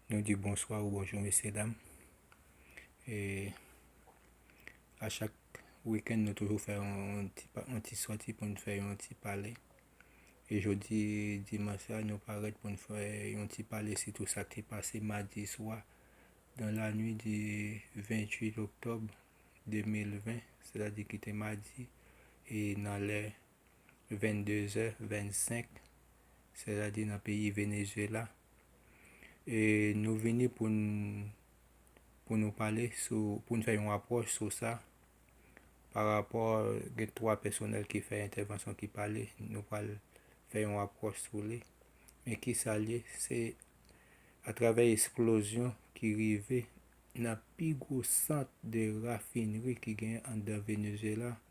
Nou di bonswa ou bonjou mesye dam E a chak wikèn nou toujou fè yon ti soti pou nou fè yon ti pale E jodi dimanch la nou parèt pou nou fè yon ti pale si tou sa ki te pase madi swa Nan lanwi di 28 oktòb 2020 se ta di ki te madi E nan lè 22 zè 25 sètadi nan peyi Venezuela e nou vini pou n pou nou pale sou pou n fè yon apwòch sou sa pa rapò gen 3 pèsonèl ki fè entèvansyon ki pale nou pral fè yon apwòch sou li men ki sa l ye se atravè esplozyon ki rive nan pi gwo sant de rafinri ki gen anndan Venezuela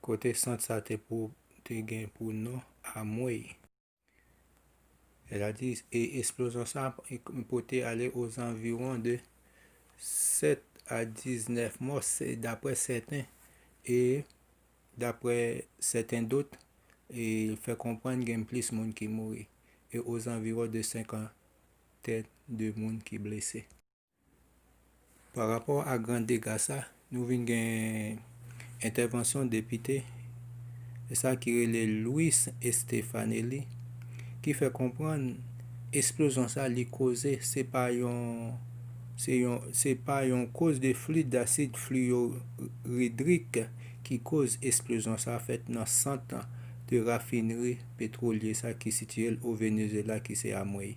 Kote sant sa te pou te gen pou non Amwey. Ela di e esplozyon sa pote ale ozanviwon de 7 a 19 mò dapre sèten e dapre sèten dot e fè konprann gen plis moun ki mouri e ozanviwon de 52 moun ki blese. Pa rapò a gran dega sa, nou vin gen entèvansyon depite sa ki rele Louis Estefanelli ki fè konprann esplozyon sa li koze se pa yon se pa yon koz de flit dasid fliyoridrik ki koz esplozyon sa fèt nan sant de rafinri petwolye sa ki sitiye l o Venezyela ki se Amwey.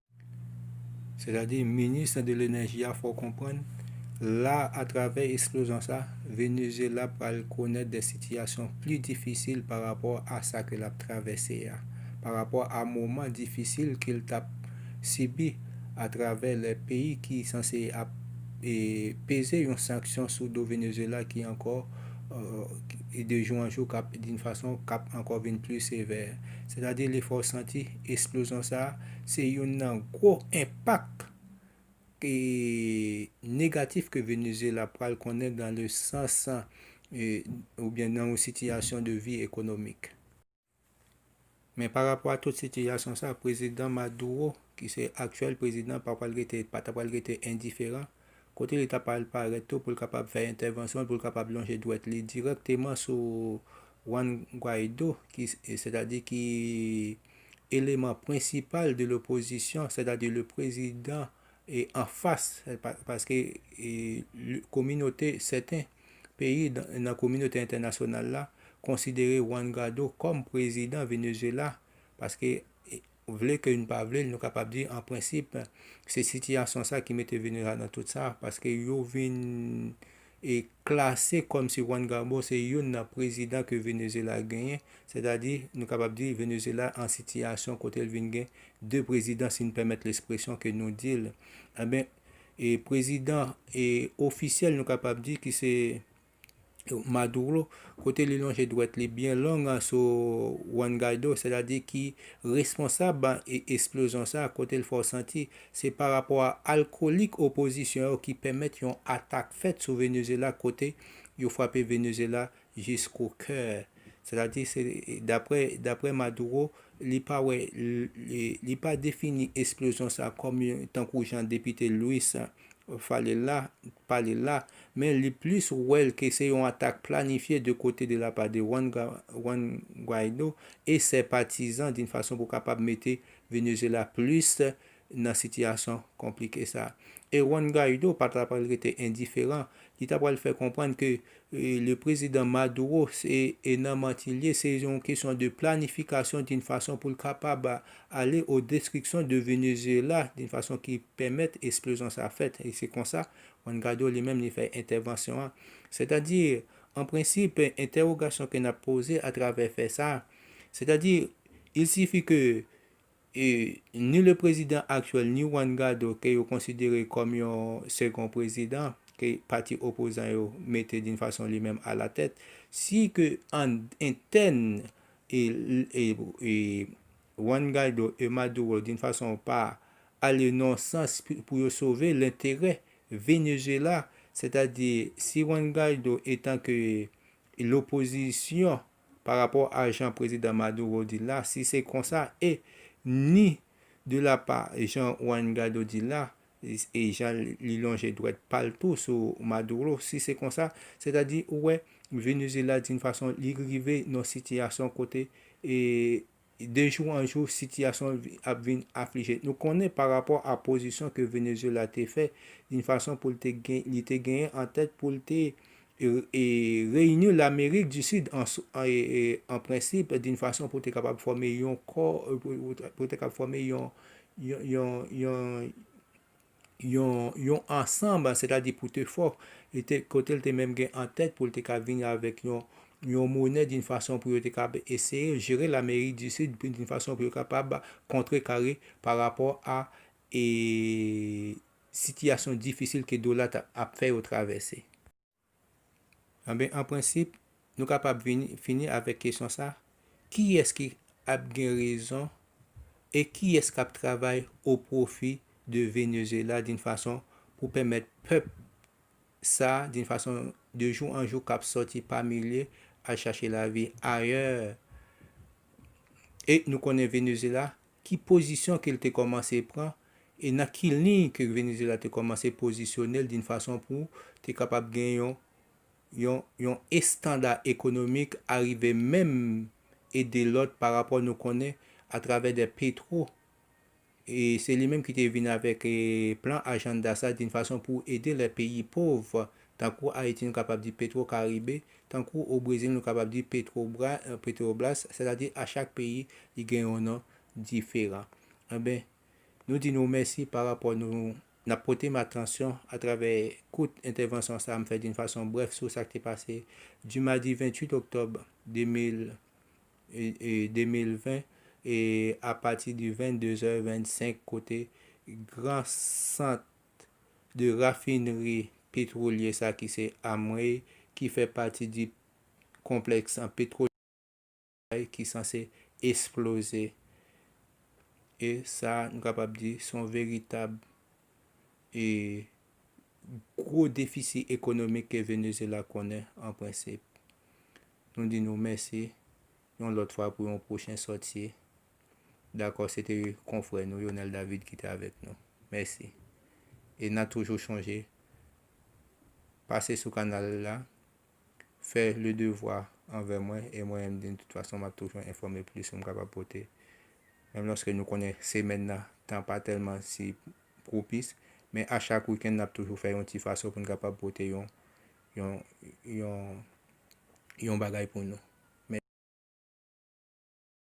Sètadi, minis nan de lenèji a fè w konprann, la atravè eksplozyon sa, Venezyela pral konèt de sitiyasyon pli difisil pa rapò a sa ke l ap travèse a, pa rapò a moman difisil ke l t ap sibi atravè lè peyi ki sanse ap peze yon sanksyon sou do Venezyela ki ankò de jou an jou k ap d'une façon k ap ankò vin pli sevè. Sètadi li fè w santi. Esplozyon sa a se youn nan gwo enpak negatif ke Venezuela pral konnen dan le sans oubyen nan yon sitiyasyon de vi ekonomik. Men pa rapò a tout sitiyasyon sa a, Prezidan Maduro ki se aktyèl prezidan pa pral rete, pa ta pral rete endiferan kote li ta pral parèt tou pou l kapab fè entèvansyon l, pou l kapab lonje dwèt li dirèkteman sou Juan Guaido, ki, sètadi ki eleman prensipal de lopozisyon, sètadi le prezidan an fas, paske kominote, sèten peyi nan kominote entènasyonal la konsidere Juan Guaido kòm prezidan Venezuela, paske. Vle ke n pa vle l nou kapab di an prensip se sitiyasyon sa ki mete Venezuela nan tout sa paske yo vin e klase kòm si Juan Garbo se youn nan prezidan ke Venezuela genyen sètadi nou kapab di Venezuela an sitiyasyon kote l vin gen 2 prezidan si n pèmèt lespresyon ke nou di l enben e prezidan e ofisyèl nou kapab di ki se Maduro, kote li lonje dwèt li byen long sou Juan Guaido, sètadi ki responsab esplozyon sa a, kote l fè w santi se pa rapò a alkolik opozisyon yo ki pèmèt yon atak fèt sou Venezyela kote yo frape Venezyela jisko kè. Sètadi, daprè Maduro, li pa wè, li pa defini esplozyon sa a kòm tankou jan depite Luis Fale la, pale la, men li plis wè l ke se yon atak planifye de kote de la pa de Juan Juan Guaido e sè patizan din fason pou kapab mete Venezuela plis nan sitiyasyon konplike sa. E Juan Guaido pa ta pral rete endiferan, li ta pral fè konprann ke Le prezidan Maduro se e nan manti liye se yon kesyon de planifikasyon din fason poul kapab ale o destrikson de Venezuela din fason ki pèmèt esplozyon sa fèt e se konsa Juan Guaido li menm li fè entèvansyon an sètadi an prensip entèwogasyon ke nap poze atravè fè sa sètadi il sifi ke E ni le prezidan aktyèl ni Juan Guaido ke yo konsidere kòm yon segon prezidan ke pati opozan yo mete d'une façon li menm a la tête, si ke an entèn e e e Juan Guaido e Maduro d'une façon pa ale nan yon sans pou yo sove lenterè Venezuela, sètadi si Juan Guaido etan ke lopozisyon pa rapò a jan Prezidan Maduro di l la, si se konsa, e ni de la pa jan Juan Guaido di l la, e jan li lonje dwèt pa l tou sou Maduro, si se konsa, sètadi ou wè Venezyela di yon fason li rive nan yon sitiyasyon kote e De jou an jou, sitiyasyon an ap vin aflije. Nou konnen pa rapò a pozisyon ke Venezuela te fè, yn fason pou li te genyen an tèt pou l te reyini Lamerik di Sid an prensip d'un fason pou te kapab fòme yon kò, pou te kapab fòme yon yon yon ansanb, sètadi pou te fò, e te kote l te menm gen an tèt pou l te ka vini avèk yon yon monè di n fason pou yo te kab eseye jere Lamerik di Sid di n fason pou yo kapab kontre kare pa rapò a e sitiyasyon difisil ke dola t ap fè yo travèse. Anben, an prensip, nou kapab fini avèk kesyon sa, Kiyès ki ap gen rezon e kiyès k ap travay o pwofi de Venezyela din fason pou pèmèt pèp sa din fason de jou an jou k ap sòti pa milye al chache lavi ayè e nou konnen Venezyela ki pozisyon ke l te kòmanse pran e nan ki liy ke Venezyela te kòmanse pozisyone l d'un fason pou te kapab gen yon yon yon estanda ekonomik arive menm ede lòt pa rapò nou konnen a travè de Petro e se li menm ki te vin avèk plan ajanda sa d'un fason pou ede lè peyi pov tankou Ayiti nou kapab di Petro Karibe Tankou o Brezil nou kapab di Petrobra, Petrobras, sètadi a chak peyi li gen yon non diferan. Anben, nou di nou mèsi pa rapò nou n ap pote m atansyon atravè kout entèvansyon sa a m fè d'une façon brève sou sa k te pase du mardi 28 octobre 2020 a pati du 22 è 25 kote gran sant de rafinri petwolye sa ki se Amway ki fè pati di konplèks an petwolye Amway ki sanse esploze. E sa nou kapab di se yon veritab e gwo defisi ekonomik ke Venezyela konnen an prensip. Nou di nou mèsi yon lòt fwa pou yon pwochen sòti Dakò, se te konfrè nou Yonel David ki te avèk nou. Mèsi. E na toujou chonje pase sou kanal la, fè le devwa anvè mwen e mwen menm de tout fason map toujou enfòme plis ke m kapab pote. Menm lòske nou konnen semèn nan tan pa tèlman si pwopis, men a chak wikenn nap toujou fè yon ti fason pou n kapab pote yon yon yon yon bagay pou nou.